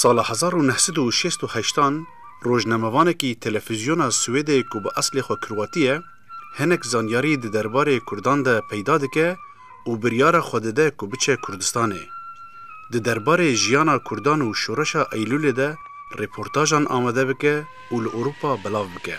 Sala hezar û neh sed û şêst û heştan rojnamevanekî telefîzyona Swêdê ku bi eslê xwe Kurwatî ye, hinek zanyarî di derbarê Kurdan de peyda dike û biryara xwe dide ku biçe Kurdistanê. Di derbarê jiyana Kurdan û şoreşa Eylûlê de rêportajan amade bike û li Ewropa belav bike.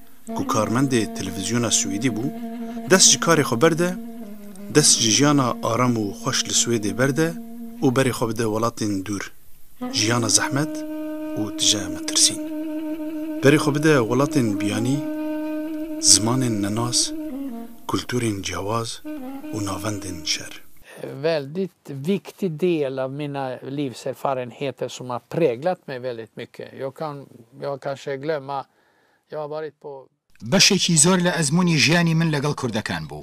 ku karmendê televîzyona Swêdî bû, dest ji karê xwe berde, dest ji jiyana aram û xweş li Swêdê berde û berê xwe bide welatên dûr, jiyana zehmet û tije metirsîn. Berê xwe bide welatên biyanî, zimanên nenas, kulturên ciyawaz û navendên şer. Väldigt viktig del av mina livserfarenheter som har präglat mig väldigt mycket. Jag kan, jag kanske glömma. Beşekî zor li ezmûnî jiyanî min legel kurdekan bû.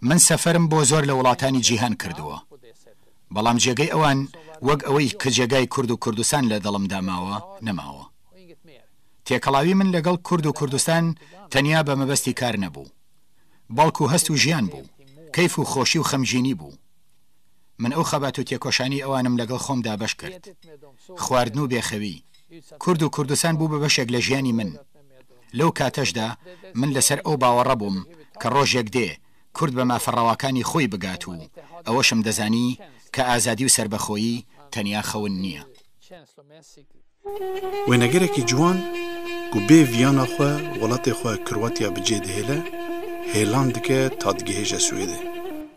Min seferm bo zor li welatanî cîhan kirduwa. Belam cegey ewan weg ewey ki cegay kurd û kurdistan li dilim da mawa, nemawa. Têkelawî min legel kurd û kurdistan tenya be mebestî kar nebû. Belkû hest û jiyan bû. Keyf û xoşî û xemjînî bû. Min ew xebat û têkoşanî ewan im legel xom dabeş kirt. Xwardin û bêxewî. Kurd û Kurdistan bû bi beşek le jiyanî min. Lew kateş de min li ser ew bawere bûm ke rojek dê Kurd be mafe rewakanî xwî bigat û eweş im dizanî ke azadî û serbexoyî tenya xewin niye. Wênegerekî ciwan ku bê viyana xwe welatê xwe Kroatya bi cê dihêle, hêlan dike ta digihêje Swêdê.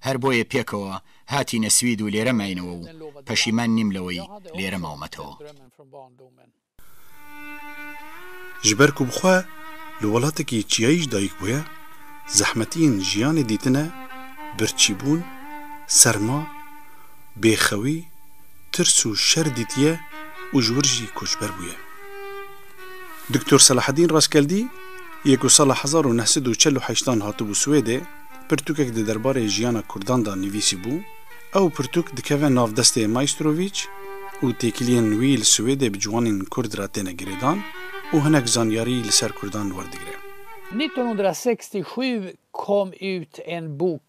Her boyê pêkewa hatîne Swîd û lêre mayenewe û peşîman nîm le wey lêre mawemetewa. Ji ber ku bi xwe li welatekî çiyayî jî dayik bûye, zehmetiyên jiyanê dîtine, birçîbûn, serma, bêxewî, tirs û şer dîtiye û ji wir jî koçber bûye. Doktor Selahedîn Raskeldî yê ku sala hezar û neh sed û çel û heştan hatibû Swêdê, Pirtûkek di derbarê jiyana Kurdan de nivîsîbû. Ew pirtûk dikeve nav destê Maîstrovic û têkiliyên wî li Swêdê bi ciwanên Kurd re têne girêdan û hinek zanyarî li ser Kurdan werdigire. Nîzdex sed û şeş û şî kom ut en bûk.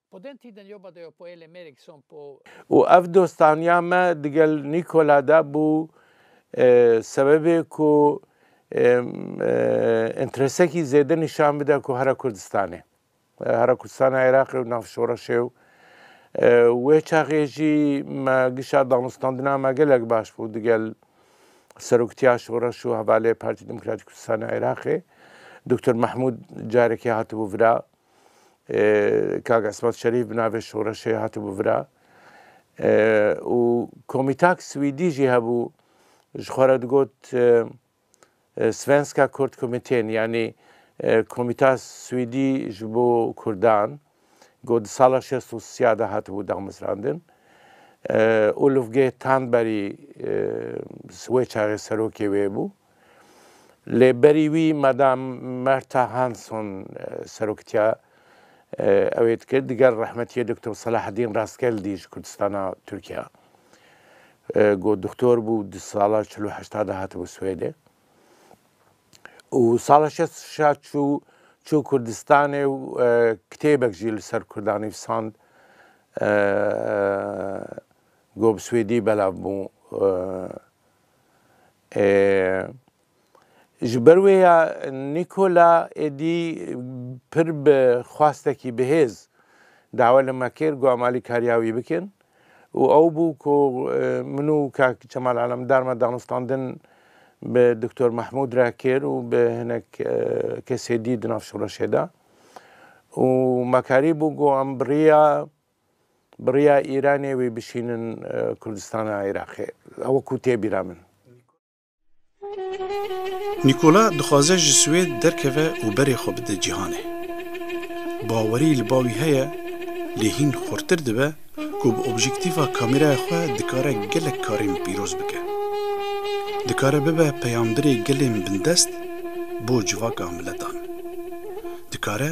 Û ev dostaniya me digel Nîkola de bû sebebê ku înteresekî zêde nîşan bide ku hera Kurdistanê, hera Kurdistana Iraqê û nav şoreşê û wê çaxê jî me gişa danûstandina me gelek baş bû digel Seroktiya Şoreş û Hevalê Partî Demokratîk Kurdistana Iraqê Doktor Mehmûd carekê hatibû vira. Kak Esmat Şerîf bi navê Şoreşê hatibû vira û komîtak swîdî jî hebû ji xwe re digot Svenska Kurdkommittén yanî komîta swîdî ji bo kurdan ku di sala şêst û sîya de hatibû damezrandin. Ulufge Tanberî wê çaxê serokê wê bû. Lê berî wî Madam Myrtha Hanson seroktiya ewê dikir, diger rehmetiyê Doktor Selahaddîn Rastgeldî ji Kurdistana Tirkiya ku doktor bû di sala çil û heşta de hatibû Swêdê û sala şeş û şeş çû çû Kurdistanê û kitêbek jî li ser Kurdan nivîsand ku bi Swêdî belav bû. E, ji ber wê ya Nîkola êdî pir bi xwastekî bihêz dawa li me kir ku em alîkariya wî bikin û ew bû ku e, min û kak Çemal Alemdar me danûstandin bi Doktor Mehmûd re kir û bi hinek e, kesê dî di nav şoreşê de û me karî bû ku em bi rêya Bi rêya Îranê wê bişînin Kurdistana Iraqê. Ew ku tê bîra min. Nîkola dixwaze ji Swêd derkeve û berê xwe bide cîhanê. Bawerî li bawî heye lê hîn xurtir dibe ku bi objektîfa kamêraya xwe dikare gelek karên pîroz bike. Dikare bibe peyamberê gelên bindest bo civaka miletan. Dikare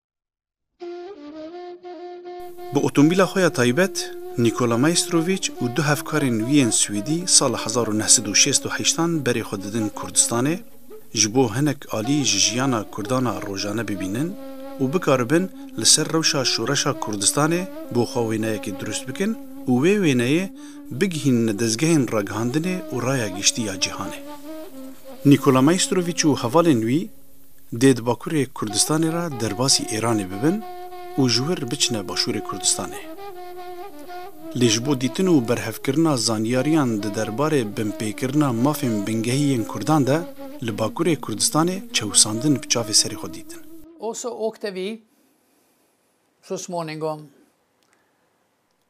Bi otomobîla xwe ya taybet, Nîkola Maîstrovîç û du hevkarên wî yên Swîdî sala hezar û neh sed û şêst û heşt an berê xwe didin Kurdistanê, ji bo hinek alî ji jiyana Kurdan a rojane bibînin û bikaribin li ser rewşa Şoreşa Kurdistanê bo xwe wêneyekê dirust bikin û wê wêneyê bigihînine dezgehên ragihandinê û raya giştî ya cîhanê. Nîkola Maîstrovîç û hevalên wî, dê di Bakurê Kurdistanê re derbasî Êranê bibin û ji wir biçine Başûrê Kurdistanê. Lê ji bo dîtin û berhevkirina zanyariyan di derbarê binpêkirina mafên bingehî yên Kurdan de li Bakurê Kurdistanê çewisandin bi çavê serê xwe dîtin. Also, Oktevî, This morning on.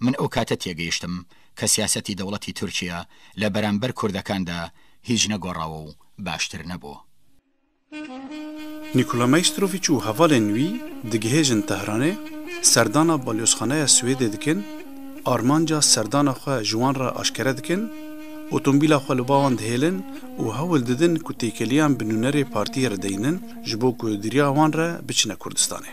Min ew kate têgihiştim ke siyasetî dewletî Tirkiye li beramber kurdekan de hîc negorawo û baştir nebû. Nikola Mejstroviç û hevalên wî digihêjin Tehranê, serdana balyozxaneya Swêdê dikin, armanca serdana xwe ji wan re aşkere dikin, otombîla xwe li ba wan dihêlin û hewl didin ku têkiliyan bi nûnerê partiyê re deynin ji bo ku di riya wan re biçine Kurdistanê.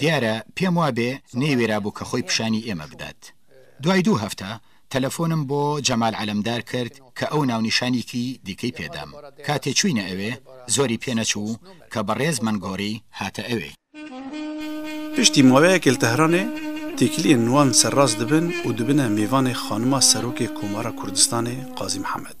Diyar e pêm wabê neyêwêrabû ke xwê pişanî ême bidat. Duayê dû hefte telefonim bo Cemal Alemdar kirt ke ew nawnîşanîkî dîkey pê dam. Katê çûyne ewê zorî pê neçû ke bi rêz min gorî hate ewê. Piştî maweyekê li Tehranê têkiliyên wan serrast dibin û dibine mêvanê xanima Serokê Komara Kurdistanê Qazî Mihemed.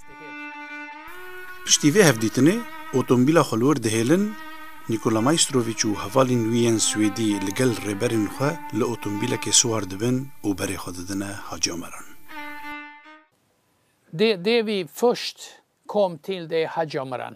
Piştî vê hevdîtinê otomobîla xwe li wir dihêlin, Nikola Maîstroviç û hevalên wî yên Swêdî li gel rêberên xwe li otomobîlekê siwar dibin û berê xwe didine Hacî Omeran. Di dêvî Fürst kommt til de Hacî Omeran.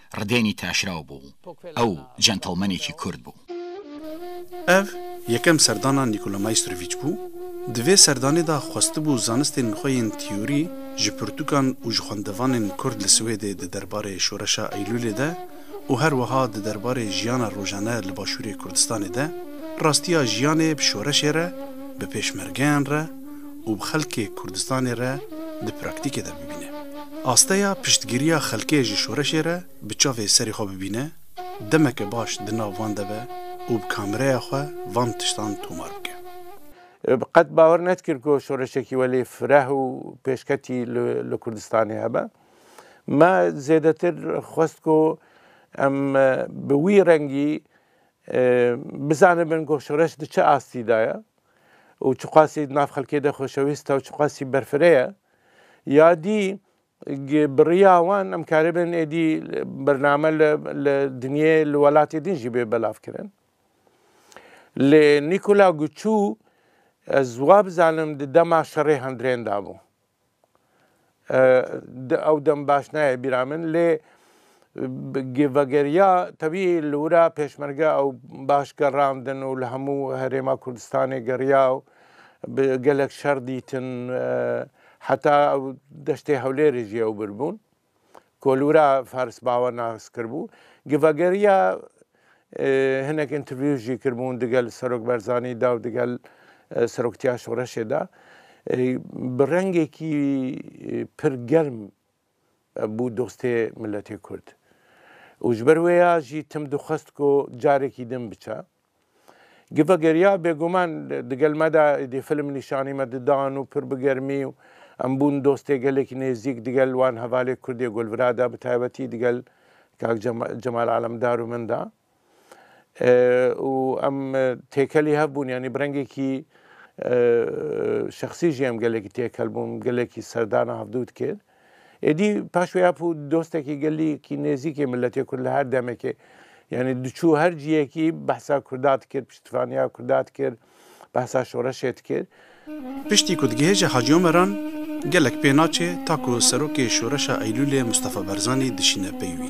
Ridênî Taşraw bû. Ew centlemenekî Kurd bû. Ev yekem serdana Nîkola Maîstroviç bû. Di vê serdanê de xwestibû zanistên xwe yên tîyorî ji pirtûkan û ji xwendevanên Kurd li Swêdê di derbarê Şoreşa Eylûlê de û her wiha di derbarê jiyana rojane li Başûrê Kurdistanê de, rastiya jiyanê bi şoreşê re, bi pêşmergeyan re, û bi xelkê Kurdistanê re di praktîkê de bibîne. Asteya piştgiriya xelkê ji şoreşê re bi çavê serê xwe bibîne, demeke baş di nav van de be û bi kamereya xwe van tiştan tomar bike. Qet bawer nedikir ku şoreşekî welê fireh û pêşketî li Kurdistanê hebe. Me zêdetir xwest ku em bi wî rengî bizanibin ku şoreş di çi astî de ye. û çiqasî di nav xelkê de xweşewîst e û çiqasî berfireh e. Ya dî bi riya wan em karibin êdî bername li li dinyê li welatê din jî bê belavkirin. Lê Nîkola Guçû ez wa bizanim di dema şerê hindrên de bû. Ew dem baş nayê bîra min lê vegeriya tevî li wir e pêşmerge ew baş gerandin û li hemû herêma Kurdistanê geriya û bi gelek şer dîtin heta deştê Hewlêrê jî ew birbûn. Kolûra Fars Bawa nas kiribû. Gi vegeriya hinek interview jî kiribûn digel Serok Berzanî de û digel Seroktiya Şoreşê de bi rengekî pir germ bû dostê miletê Kurd. Û ji ber wê ya jî tim dixwest ku carekî din biçe. Giva ger ya bêguman digel me de êdî film nîşanî me didan û pir bi germî û em bûn dostê gelek nêzîk digel wan hevalê kurdê Gulvira de bi taybetî digel kak Cemal Alemdar û min de û em têkelî hev bûn yanî bi rengekî şexsî jî em gelekî têkel bûn gelekî serdana hevdût kir. Êdî paş wê hep û dostekî gelî kî nêzîkê miletê Kurd li her demekê yanî diçû her ciyekî behsa Kurda dikir, piştîvaniya Kurda dikir, behsa şoreşê dikir. Piştî ku digihêje Hacî Omer an gelek pê naçê ta ku serokê şoreşa Eylûlê Mustafa Barzanî dişîne pey wî.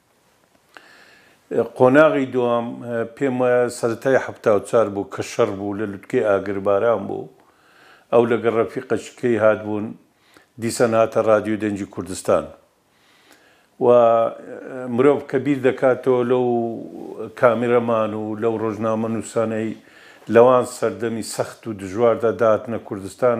Qonaxî dûam pêm waya seretayê hefta û çar bû ke şer bû li lutkê agirbaran bû. Ew legel refîqa şikeyî hatbûn dîsan hate Radyo Dencî Kurdistan. Wa mirov ke bîr deka to lew kameraman û lew rojnamenûsaneyî lewan serdemî sext û dijwar de dihatine Kurdistan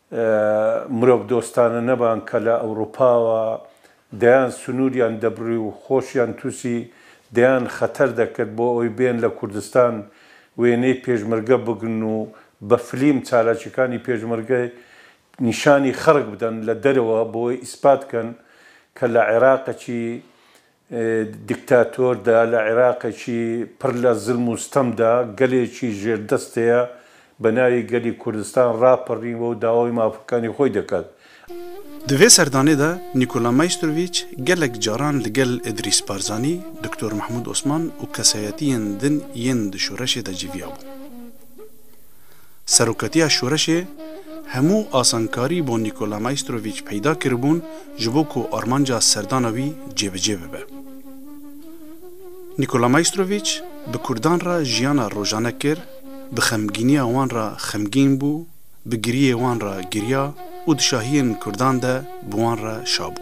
Mirov dostane neban ke li Ewropa wa deyan sinûriyan debrî û xoşiyan tûsî deyan xeter de ket bo ewê bên li Kurdistan wêneyê pêşmerge bigrin û bi flîm çalakikanî pêşmerge nîşanî xelk bidin li derewe bo wê îspat kin ke li Iraqekî Dîktator de li Iraqekî pir li zilm û stem de gelekî jêrdestê ye bi navê gelî Kurdistan rapirîn we û dawayê mafikanê xwe dikin. Di vê serdanê de Nîkola Maîstroviç gelek caran li gel Îdrîs Barzanî, Doktor Mehmûd Osman û kesayetiyên din yên di şoreşê de civiyabûn. Serokatiya Şoreşê hemû asankarî bo Nîkola Maîstrovîç peyda kiribûn ji bo ku armanca serdana wî cêbicê bibe. Nîkola Maîstrovîç bi kurdan re jiyana rojane kir, bi xemgîniya wan re xemgîn bû, bi giriyê wan re giriya û di şahiyên kurdan de bi wan re şabû.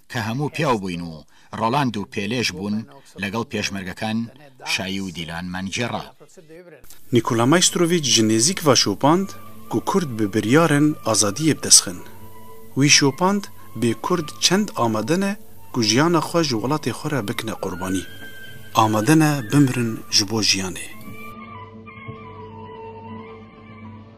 Ke hemû piyaw bûyn û Roland û Pêlêj bûn legel pêşmergekan Şayî û Dîlan Mancê re. Nîkola Maîstrovîc ji nêzîk va şopand ku Kurd bi biryarên azadiyê bi dest xin. Wî şopand bê Kurd çend amade ne ku jiyana xwe ji welatê xwe re bikine qurbanî. Amade ne bimirin ji bo jiyanê.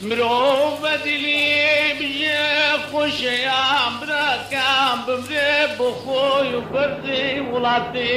Mirov be dilî bije xweşe ya birakan bimre bo xwe û berzê welatê.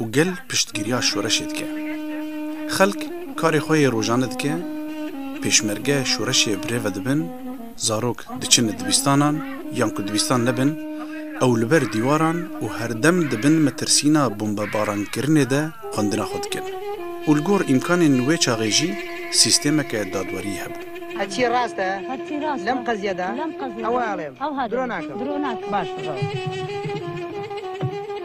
û gel piştgiriya şoreşê dike. Xelk karê xwe yê rojane dike, pêşmerge şoreşê bi rê ve dibin, zarok diçin dibîstanan yan ku dibîstan nebin, ew li ber dîwaran û herdem di bin metirsîna bombebarankirinê de xwendina xwe dikin û li gor îmkanên wê çaxê jî sîstemeke dadweriyê hebû. Herçî rast e lem qeziye de ew e alem. Dro nakim. Baş.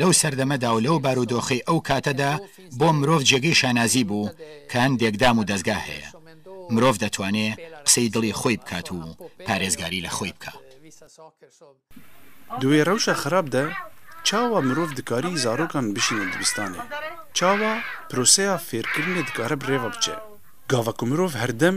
Lew serdeme de û lew barodoxê ew kate de bo mirov cegê şanazî bû ke hindêk dam û dezgah heye. Mirov detwanê qisey dilê xwey bikat û parêzgarî li xwey bika. Di wê rewşa xirab de çawa mirov dikarî zarokan bişîne dibistanê? Çawa proseya fêrkirinê dikare bi rêve biçe? Gava ku mirov herdem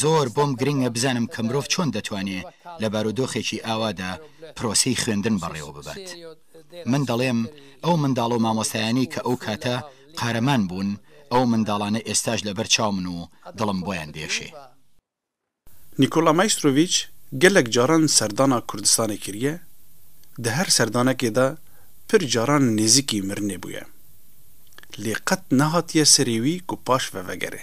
Zor bom giring e bizanim ke mirov çon detwanê li barodoxekî awa de proseyî xwendin berêw bibet. Min delêm ew mindal û mamostayanî ke ew kate qareman bûn ew mindalane êsta ji li ber çaw min û dilim boyan diêşê. Nikola Maistrovic gelek caran serdana Kurdistanê kiriye, di her serdanekê de pir caran nêzikî mirinê bûye. Lê qet nehatiye serê wî ku paş ve vegerê.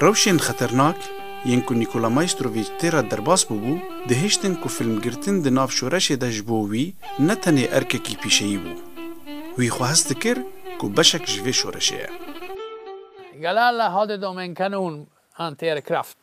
Rewşên xeternak yên ku Nikola Maîstrovic tê re derbas bûbû, dihiştin ku filmgirtin di nav şoreşê de ji bo wî ne tenê erkekî pîşeyî bû. Wî xwe hest dikir ku beşek ji vê şoreşê ye. Gala la Hade Domenkanun Anteerkraft.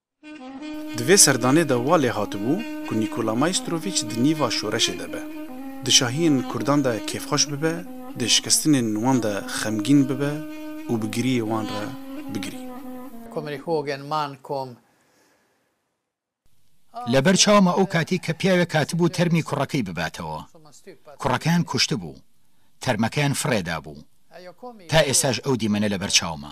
Di vê serdanê de wa lê hatibû ku Nîkola Maîstrovîç di nîva şoreşê de be, di şahiyên kurdan de kêfxweş bibe, di şikestinên wan de xemgîn bibe û bi giriyê wan re bigirî. Komrê Hogan man kom. Li ber çawa ma o katî ke piyawek hatibû termî kurekî bibatewa. Kurekeyan kuştibû. Termekeyan firê dabû. Ta êsaj ew dîmene li ber çawa ma.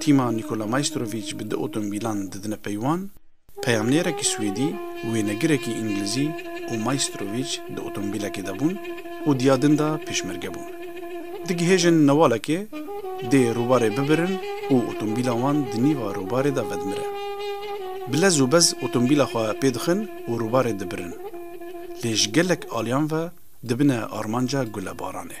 Tîma Nikola Maîstrovîç bi du otomobîlan didine peywan, peyamnêrekî Swêdî, wênegirekî Îngilizî û Maîstrovîç di otomobîlekê de bûn û diya din de pêşmerge bûn. Digihêjin newalekê dê rûbarê bibirin û otomobîla wan di nîva rûbarê de vedimire. Bi lez û bez otomobîla xwe pêdixin û rûbarê dibirin. Lê ji gelek aliyan ve dibine armanca gulebaranê.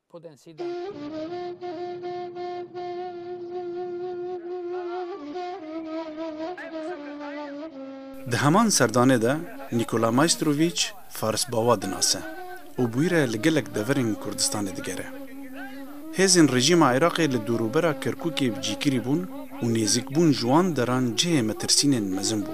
Di heman serdanê de Nîkola Maîstrovîç Farisbawa dinase û bûyî re li gelek deverên Kurdistanê digere. Hêzên rejîma Iraqê li dûrûbera Kerkûkê bi cîkirî bûn û nêzîkbûn ji wan deran cihê metirsînên mezin bû.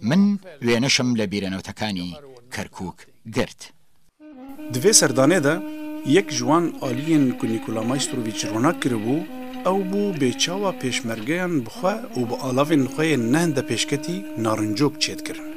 Min wênişm li bîrenewtekanî Kerkûk girt. Di vê serdanê de yek ji wan aliyên ku Nîkola Maîstroviç ronak kiribû, ew bû bê çawa pêşmergeyan bi xwe û bi alavên xwe yên neh de pêşketî narincok çêdikirin.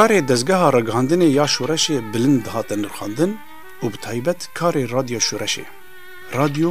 Karê dezgeha ragihandinê ya şoreşê bilind dihate nirxandin û bi taybet karê Radyo Şoreşê, Radyo,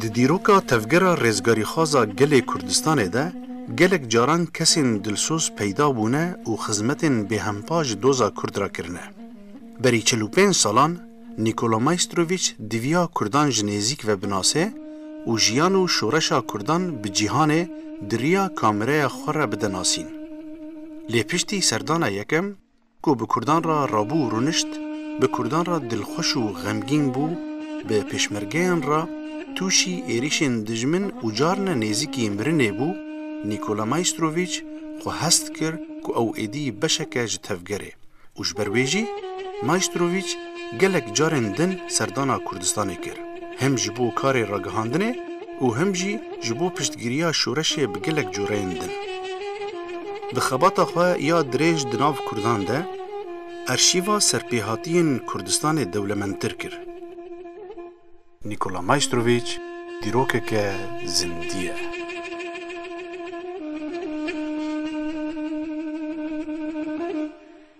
Di dîroka tevgera rêzgarîxwaza gelê Kurdistanê de gelek caran kesên dilsoz peyda bûne û xizmetên bêhempa ji doza Kurd re kirine. Berî çil û pênc salan Nîkola Maîstrowîç diviya Kurdan ji nêzîk ve binase û jiyan û şoreşa Kurdan bi cîhanê di riya kamereya xwe re bide nasîn. Lê piştî serdana yekem, Ku bi Kurdan re rabû û rûnişt, bi Kurdan re dilxweş û xemgîn bû, bi pêşmergeyan re tûşî êrîşên dijmin û carine nêzîkî mirinê bû, Nîkola Maîstrovîç xwe hest kir ku ew êdî beşek e ji tevgerê û ji ber wê jî Maîstrovîç gelek carên din serdana Kurdistanê kir. him ji bo karê ragihandinê û him jî ji bo piştgiriya şoreşê bi gelek cureyên din. Di xebata xwe ya dirêj di nav Kurdan de erşîva serpêhatiyên Kurdistanê dewlemendtir kir. Nikola Maystrovic dîrokeke zindî ye.